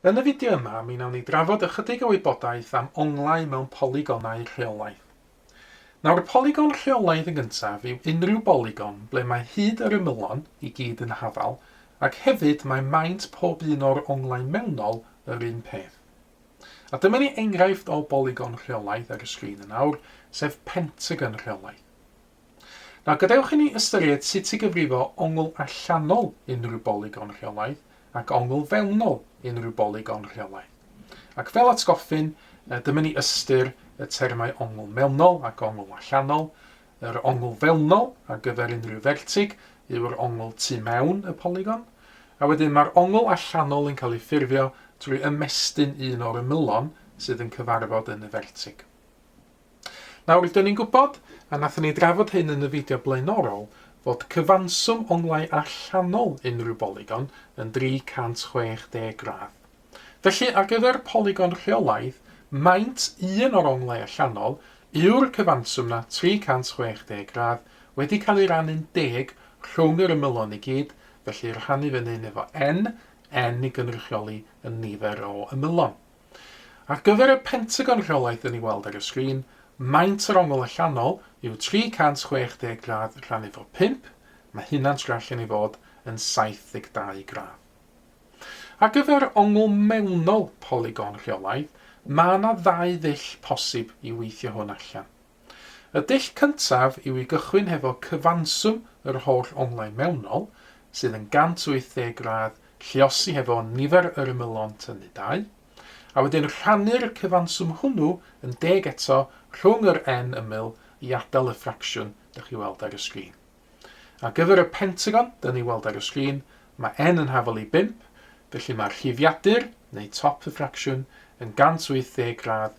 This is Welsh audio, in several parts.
Yn y fideo yma, mi wnawn ni drafod ychydig o wybodaeth am onglau mewn polygonau rheolaidd. Nawr, polygon rheolaidd yn gyntaf yw unrhyw bolygon ble mae hyd yr ymylon i gyd yn hafal ac hefyd mae maint pob un o'r onglau mewnol yr un peth. A dyma ni enghraifft o bolygon rheolaidd ar y sgrin yn awr, sef pentagon rheolaidd. Nawr, gadewch i ni ystyried sut i gyfrifo ongl allanol unrhyw bolygon rheolaidd ac ongl fewnol unrhyw bolygon rheolaidd. Ac fel atgoffyn, dyma ni ystyr y termau ongl mewnol ac ongl allanol. Yr ongl fewnol ar gyfer unrhyw fertig yw'r ongl tu mewn y polygon, a wedyn mae'r ongl allanol yn cael ei ffurfio drwy ymestyn un o'r ymylon sydd yn cyfarfod yn y fertig. Nawr, rydan ni'n gwybod, a wnaethon ni drafod hyn yn y fideo blaenorol, fod cyfanswm onglau allanol unrhyw bolygon yn 360 gradd. Felly, ar gyfer polygon rheolaidd, maint un o'r onglau allanol yw'r cyfanswm 'na, 360 gradd, wedi cael ei rannu'n deg rhwng yr ymylon i gyd, felly rhannu fyny yn efo n, n i gynrychioli y nifer o ymylon. Ar gyfer y Pentagon rheolaeth yn ei weld ar y sgrin, maint yr ongl allanol yw 360 gradd rhannu fo 5, mae hynna'n tra allan ei fod yn 72 gradd. Ar gyfer ongl mewnol polygon rheolaidd, mae yna ddau ddull posib i weithio hwn allan. Y dull cyntaf yw i gychwyn hefo cyfanswm yr holl onglau mewnol, sydd yn 180 gradd, lluosi hefo nifer yr ymylon tynnu dau, a wedyn rhannu'r cyfanswm hwnnw yn deg eto rhwng yr n ymyl i adael y ffracsiwn dych chi weld ar y sgrin. Ar gyfer y pentagon dyn ni weld ar y sgrin, mae n yn hafal i 5, felly mae rhifiadur, neu top y ffracsiwn, yn 180 gradd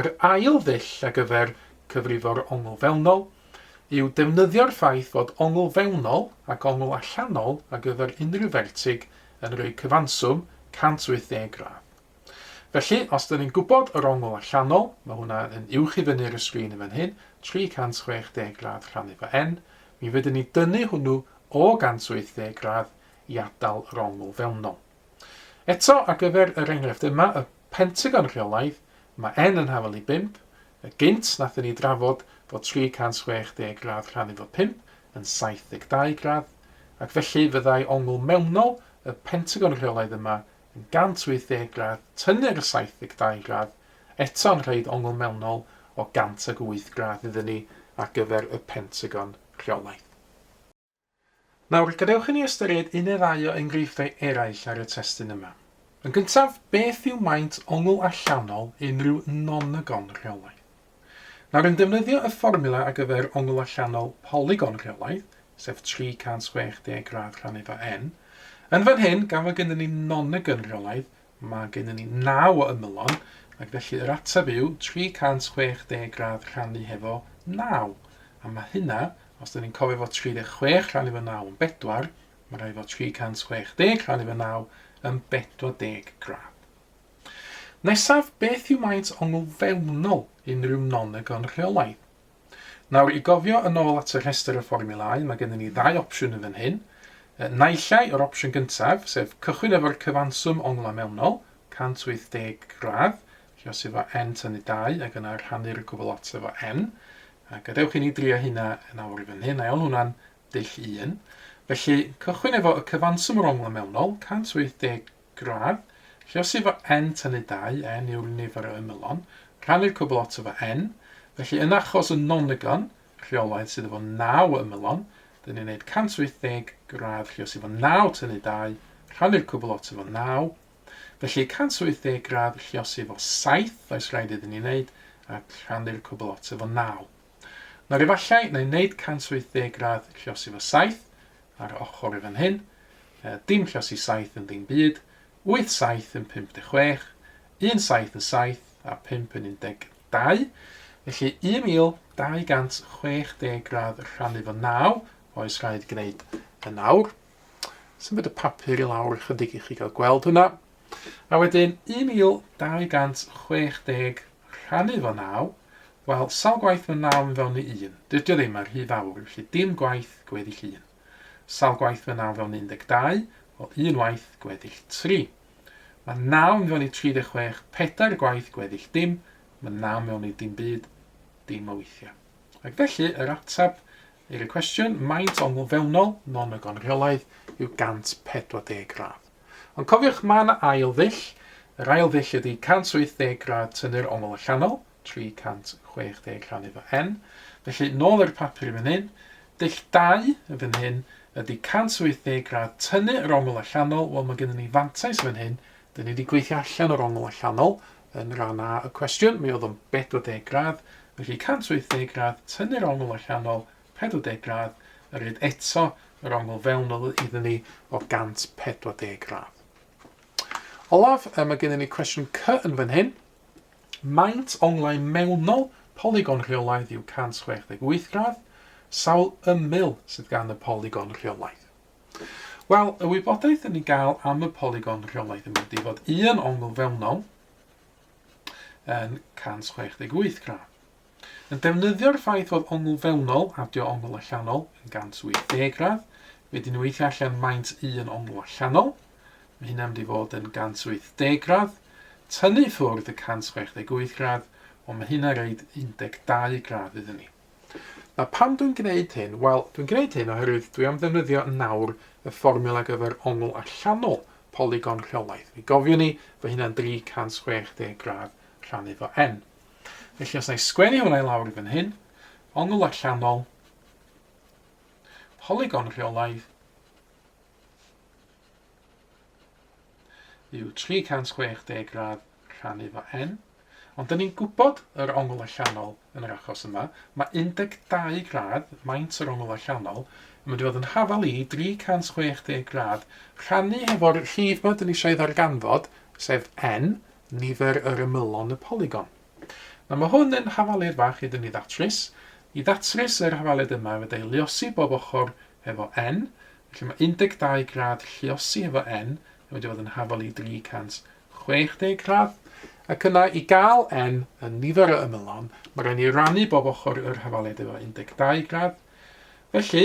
Yr ail ddull ar gyfer cyfrifo'r ongl fewnol yw defnyddio'r ffaith fod ongl fewnol ac ongl allanol ar gyfer unrhyw fertig yn rhoi cyfanswm 180 gradd. Felly, os dyn ni'n gwybod yr ongl allanol, mae hwnna yn uwch i fyny'r y sgrin yn fan hyn, 360 gradd rhannu fo n, mi fydden ni dynnu hwnnw o 180 gradd i atal yr ongl fewnol. Eto, ar gyfer yr enghraifft yma, y Pentagon rheolaidd, mae N yn hafal i 5, y gynt nathon ni drafod fod 360 gradd rhannu fo 5 yn 72 gradd, ac felly fyddai ongl mewnol y Pentagon rheolaidd yma yn 180 gradd tynnu'r 72 gradd eto yn rhoid ongl mewnol o 108 gradd iddyn ni ar gyfer y Pentagon rheolaidd. Nawr, gadewch i ni ystyried un neu ddau o enghreifftiau eraill ar y testun yma. Yn gyntaf, beth yw maint ongl allanol unrhyw nonagon rheolaidd? Nawr, yn defnyddio y fformula ar gyfer ongl allanol polygon rheolaidd, sef 360 gradd rhan eiddo n, yn fan hyn, gan fod gennym ni nonagon rheolaidd, Mae gennym ni naw o ymylon, ac felly yr ateb yw 360 gradd rhannu hefo naw. A mae hynna, os da ni'n cofio fo 36 rhannu fo naw yn bedwar, mae rhaid fo 360 rhannu fo naw yn 40 gradd. Nesaf, beth yw maint ongl fewnol unrhyw non-agon rheolaidd? Nawr, i gofio yn ôl at y rhestr y fformiwlau, mae gennym ni ddau opsiwn yn fan hyn. Naill ai yr opsiwn gyntaf, sef cychwyn efo'r cyfanswm onglau mewnol, 180 gradd, lle os efo n tynnu 2 ac yna rhannu'r gwbl lot efo n. A gadewch i ni drio hynna yn awr i fan hyn, a iawn hwnna'n dull 1. Felly, cychwyn efo y cyfanswm o'r onglau mewnol, 180 Gradd, Rhosi fo n tynnu dau n yw'r nifer o ymylon, rhannu'r cwbl oto fo n, felly yn achos y nonygon, rheolaidd, sydd efo naw ymylon, dyn ni'n neud 180 gradd rhosi fo naw tynnu dau, rhannu'r cwbl oto fo naw, felly 180 gradd rhosi fo saith oes rhaid iddyn ni neud, a rhannu'r cwbl oto fo naw. Nawr efallai na i neud 180 gradd rhosi fo saith, Ar ochr i fan hyn, dim llosi saith yn ddim byd, wyth saith yn pump deg chwech, un saith yn saith a phump yn un deg dau, felly 1260 gradd rhannu fo naw, oes rhaid gwneud yn awr. Symud y papur i lawr ychydig i chi gael gweld hwnna. A wedyn 1260 rhannu fo naw, Wel, sawl gwaith mae naw yn fewn i un? Dydi o ddim, mae'n rhy fawr, felly dim gwaith, gweddill un. Sawl gwaith mae naw yn fewn i 12? Wel, un waith, gweddill tri. Mae naw yn fewn i 36, pedair gwaith, gweddill dim. Mae naw yn fewn i dim byd, dim o weithiau. Ac felly, yr ateb i'r y cwestiwn, maint ongl fewnol, non y gonreolaidd, yw 140 gradd. Ond cofiwch, mae yna ail ddull. Yr ail ddull ydy 180 gradd tynnu'r ongl allanol, 360 rhan iddo N. Felly, nôl i'r papur yn fan hyn. Dull 2 yn fan hyn ydy 180 gradd tynnu yr ongl allanol. Wel, mae gennym ni fantais fan hyn. Dyn ni wedi gweithio allan yr ongl allanol yn rhan A y cwestiwn. Mi oedd o'n 40 gradd. Felly, 180 gradd tynnu'r ongl allanol, 40 gradd, a rhaid eto yr ongl fewnol iddyn ni o 140 gradd. Olaf, mae gennym ni cwestiwn C yn fan hyn. Maint onglau mewnol polygon rheolaidd yw 168 gradd, sawl ymyl sydd gan y polygon rheolaidd? Wel, y wybodaeth yn ei gael am y polygon rheolaidd yn mynd i fod un ongl fewnol yn 168 gradd. Yn defnyddio'r ffaith fod ongl fewnol, adio ongl allanol, yn 180 gradd, wedyn ni'n weithio allan maint un ongl allanol, mae hynna'n mynd i fod yn 180 gradd, tynnu ffwrdd y 168 gradd, wel mae hynna'n reid 12 gradd iddyn ni. Na pam dwi'n gwneud hyn? Wel, dwi'n gwneud hyn oherwydd dwi am ddefnyddio nawr y fformiwla ar gyfer ongl allanol polygon rheolaidd. Mi gofiwn ni, fo hynna'n 360 gradd rhannu fo n. Felly os na i sgwennu hwnna i lawr i fan hyn, ongl allanol, polygon rheolaidd, yw 360 gradd rhannu fo n. Ond dyn ni'n gwybod yr ongl allanol yn yr achos yma. Mae 12 gradd, maint yr ongl allanol, yn mynd i fod yn hafal i 360 gradd rhannu hefo'r rhif ma dyn ni eisiau ei ddarganfod, sef n, nifer yr ymylon y polygon. Nawr mae hwn yn hafalud fach iddyn ni ddatrys. I ddatrys yr hafalud yma fe dau luosi bob ochr efo n, felly mae 12 gradd lluosi efo n yn mynd i fod yn hafalu 360 gradd, ac yna i gael n yn nifer o ymylon mae rhaid ni rannu bob ochr yr hafalud efo 12 gradd, felly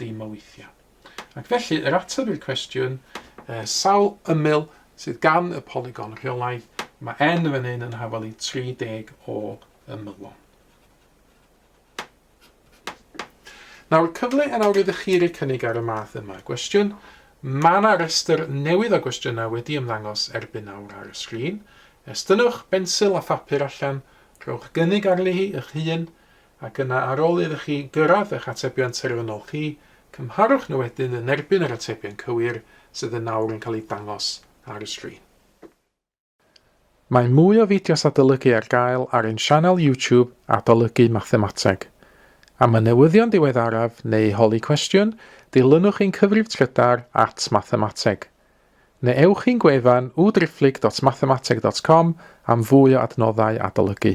dim o weithiau. Ac felly, yr ateb i'r cwestiwn, uh, sawl ymyl sydd gan y polygon rheolaidd, mae n fan hyn yn hafal i 30 o ymylon. Nawr, cyfle yn awr ydych chi rei cynnig ar y math yma gwestiwn. Mae yna restr newydd o gwestiynau wedi ymddangos erbyn awr ar y sgrin. Estynnwch bensil a phapur allan, rhowch gynnig arni hi eich hun, ac yna ar ôl iddo chi gyrraedd eich atebion terfynol chi, cymharwch nhw wedyn yn erbyn yr atebion cywir sydd yn awr yn cael eu dangos ar y sgrin. Mae mwy o fideos adolygu ar gael ar ein sianel YouTube Adolygu Mathemateg. Am y newyddion diweddaraf neu holi cwestiwn, dilynwch ein cyfrif trydar at Mathemateg. Neu ewch i'n gwefan www.driphlyg.mathemateg.com am fwy o adnoddau adolygu.